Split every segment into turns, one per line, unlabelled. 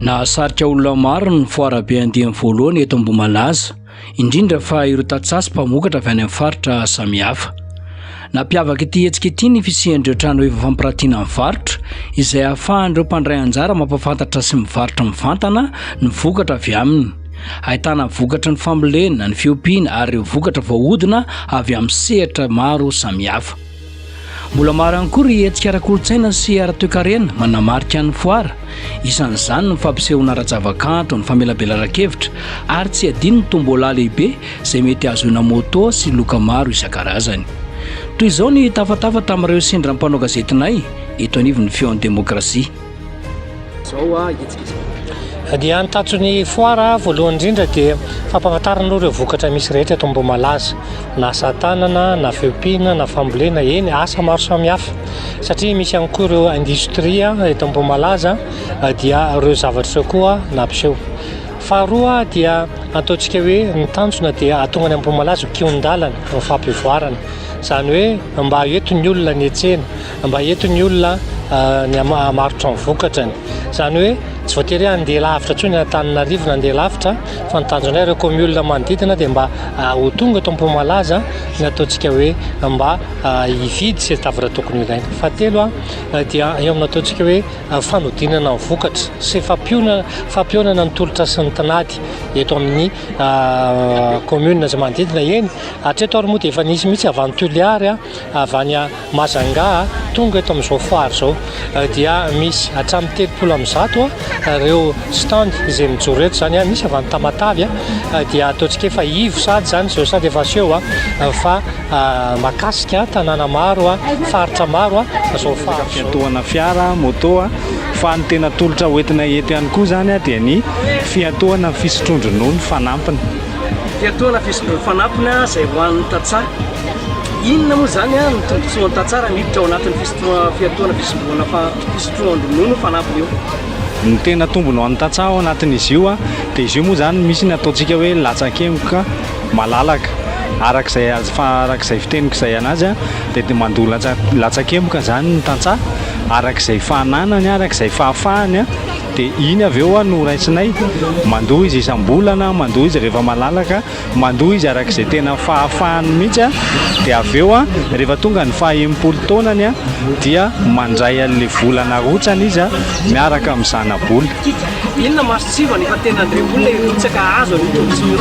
Nahasarika olona maro ny foarabe andiany voalohany eto Ambohimalaza, indrindra fa ireo tantsaha sy mpamokatra avy any amin'ny faritra samihafa. Nampiavaka ity hetsika ity ny fisian'ireo trano efa fampiratiana ny varotra, izay ahafahan'ireo mpandray anjara mampahafantatra sy mivarotra mivantana ny vokatra avy aminy. Ahitana vokatry ny fambolena, ny fiompiana ary ireo vokatra voahodina avy amin'ny sehatra maro samihafa. Mbola maro ihany koa ry hetsika ara-kolontsaina sy ara-toekarena manamarika ny foara, isan'izany ny fampisehoana ara-javakanto, ny famelabelaran-kevitra ary tsy adino ny tombola lehibe izay mety hahazoana moto sy loka maro isan-karazany. Toy izao ny tafatafa tamin'ireo sendra mpanao gazetinay eto anivon'ny Feon'ny Demokrasia. Zao a
hetsika dia ny tatson'ny foara voalohany indrindra dia fampahafantarana aloha ireo vokatra misy rehetra eto Ambohimalaza na asa tanana na fiompiana na fambolena eny asa maro samihafa satria misy ihany koa ireo industria eto Ambohimalaza dia ireo zavatra ireo koa nampiseho faharoa dia ataontsika hoe ny tanjona dia atonga any Ambohimalaza kion-dalana ny fampivoarana izany hoe mba eto ny olona ny etsena Mba eto ny olona ny hamarotra ny vokatrany. Izany hoe tsy voatery handeha lavitra intsony Antananarivo na handeha lavitra fa ny tanjona ireo kaomiolona manodidina dia mba ho tonga eto Ampohimalaza ny ataontsika hoe mba hividy sy hitavitra tokony ho ilaina. Fahatelo dia eo amin'ny ataontsika hoe fanodinana ny vokatra sy fampihaonana ny tolotra sy ny tinady eto amin'ny kaomiolona izay manodidina. Eny hatreto ary moa dia efa nisy mihitsy avy any Toliary, avy any Mahazangà, tonga eto amin'izao foire izao dia misy hatramin'ny telopolo amin'ny zato ireo stand izay mijoro eto izany, misy avy any Tamatave dia ataontsika efa ivo sady izany izao sady efa aseho fa mahakasika tanàna maro, faritra maro izao foire izao. Fiantohana fiara,
moto, fa ny tena tolotra hoentina eto ihany koa izany dia ny fiantohana ny fisotroan-dronono fanampiny. dia toa na
Facebook fanampina izay ho an'ny tantsaha. Inona moa izany ah, ny tombontsoan'ny tantsaha raha miditra ao anatin'ny fisotroana fiatoana fisotroana fa fisotroan-dronono fanampina io? Ny tena
tombony ho an'ny tantsaha ao anatin'izy io dia izy io moa izany misy ny ataontsika hoe latsakemboka malalaka arak'izay azy fa arak'izay fiteniko izay anazy a dia dia mandoa latsa- latsakemboka izany ny tantsaha arak'izay fananany arak'izay fahafahany a Dia iny avy eo no raisinay, mandoa izy isam-bolana, mandoa izy rehefa malalaka, mandoa izy araka izay tena fahafahany mihitsy, dia avy eo rehefa tonga ny faha enimpolo taonany dia mandray an'ilay vola narotsany izy miaraka amin'ny zana-bola. Inona
mason-tsivana efa tena be olona hirotsaka hahazo an'io tombotsoa io?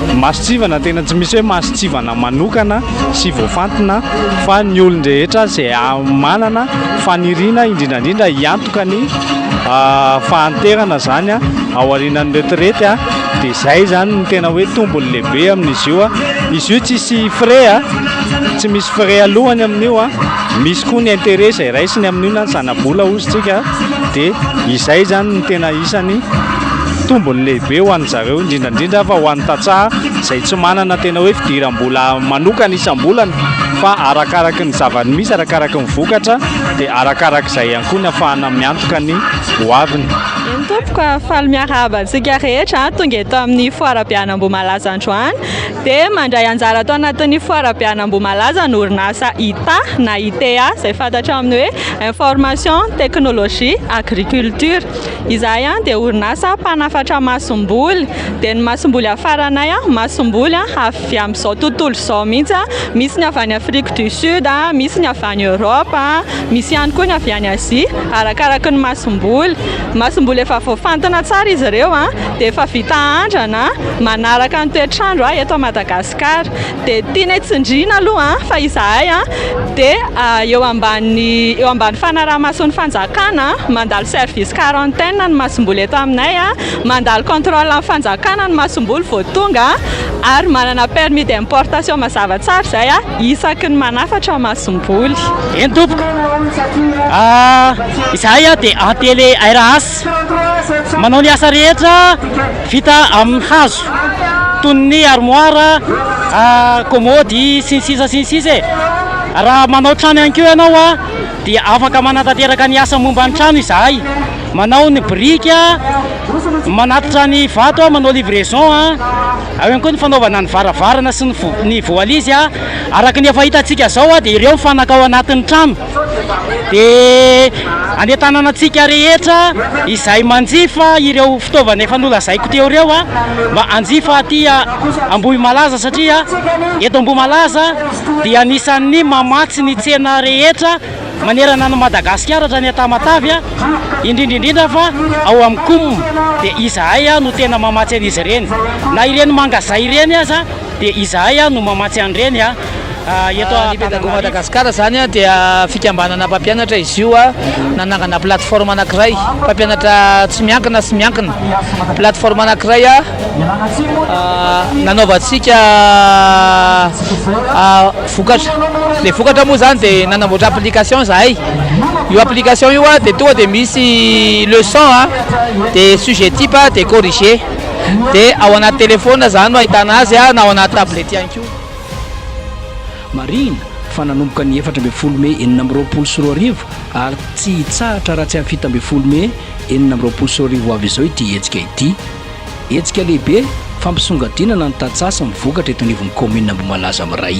Ny mason-tsivana tena
tsy misy hoe mason-tsivana manokana sy voafantina fa ny olon-drehetra izay manana faniriana indrindra indrindra hiantona ka ny fahanterana zany a ao arinan'ny retirety a de zay zany ny tena hoe tombony lehibe amin'izy io a izy io tsisy frais a tsy misy frais alohany amin'io a misy koa ny intérêt zay raisiny amin'io na ny zanabola ozintsika de izay zany ny tena isany tombony lehibe ho an'ny zareo indrindrandrindra fa ho an'ny tantsaha zay tsy manana tena hoe fidirambola manokana isam-bolana fa arakaraky ny zava-misy arakaraky ny vokatra dia arakaraka izay ihany koa ny afahana miantoka ny ho aviny. Eny tompoko,
faly miarahaba antsika rehetra ah, tonga eto amin'ny foarabe any Ambohimalaza androany dia mandray anjara ato anatin'ny foarabe any Ambohimalaza ny orinasa ITA na ITA izay fantatra amin'ny hoe information technologie agriculture. Izahay ah, dia orinasa mpanafatra masomboly dia ny masomboly hafaranay ah, masomboly ah, avy amin'izao tontolo izao mihitsy, misy ny avy any Afrique du Sud, misy ny avy any Europe, misy ihany koa ny avy any Asie, arakaraky ny masomboly. Masomboly efa voafantina tsara izy ireo dia efa vita andrana, manaraka ny toetr'andro eto Madagasikara. Dia tianay tsindriana aloha fa izahay dia eo ambany eo ambany fanaraha-mason'ny fanjakana, mandalo service quarantaine ny masomboly eto aminay, mandalo contrôle amin'ny fanjakana ny masomboly vao tonga. Ary manana permis d'importation mazava tsara izay a! isaky ny manafatra aho masomboly. Eny tompoko!
izahay a dia en tele RAS manao ny asa rehetra vita amin'ny hazo toy ny armoire, komody sy ny sisa sy ny sisa e! raha manao trano ihany koa ianao a dia afaka manatanteraka ny asa momba ny trano izahay. Manao ny biriky a, manatitra ny vato a, manao livraison a, ao ihany koa ny fanaovana ny varavarana sy ny voalizy a, araka ny efa hitantsika zao a, dia ireo ny fanaka ao anatin'ny trano, dia anentanana antsika rehetra izay manjifa ireo fitaovana efa nolazaiko teo ireo a, mba hanjifa aty Ambohimalaza satria eto Ambohimalaza dia anisan'ny mamatsy ny tsena rehetra. manerana an'i Madagasikara hatrany an-tamatavy, indrindra indrindra fa ao amin'ny Coum dia izahay no tena mamatsy an'izy ireny. Na ireny mangazay ireny aza dia izahay no mamatsy an'ireny eto Antananarivo. Ny Pedago Madagascar
izany dia fikambanana mpampianatra izy io nanangana plateforme anankiray, mpampianatra tsy miankina sy miankina, plateforme anankiray. nanaovantsika vokatra. Ilay vokatra moa izany dia nanamboatra application izahay. Io application io dia tonga dia misy leçon dia sujet type dia corriger. Dia ao anaty téléphone izany no ahitana azy na ao anaty tablette ihany koa. Marihina
fa nanomboka ny efatra ambin'ny folo mey enina amby roapolo sy roa arivo ary tsy hitsahatra raha tsy amin'ny fito ambin'ny folo mey enina amby roapolo sy roa arivo ho avy izao ity hetsika ity. Hetsika lehibe fampisongadinana ny tantsaha sy ny vokatra eto anivon'ny kaominina Ambohimalaza Miray.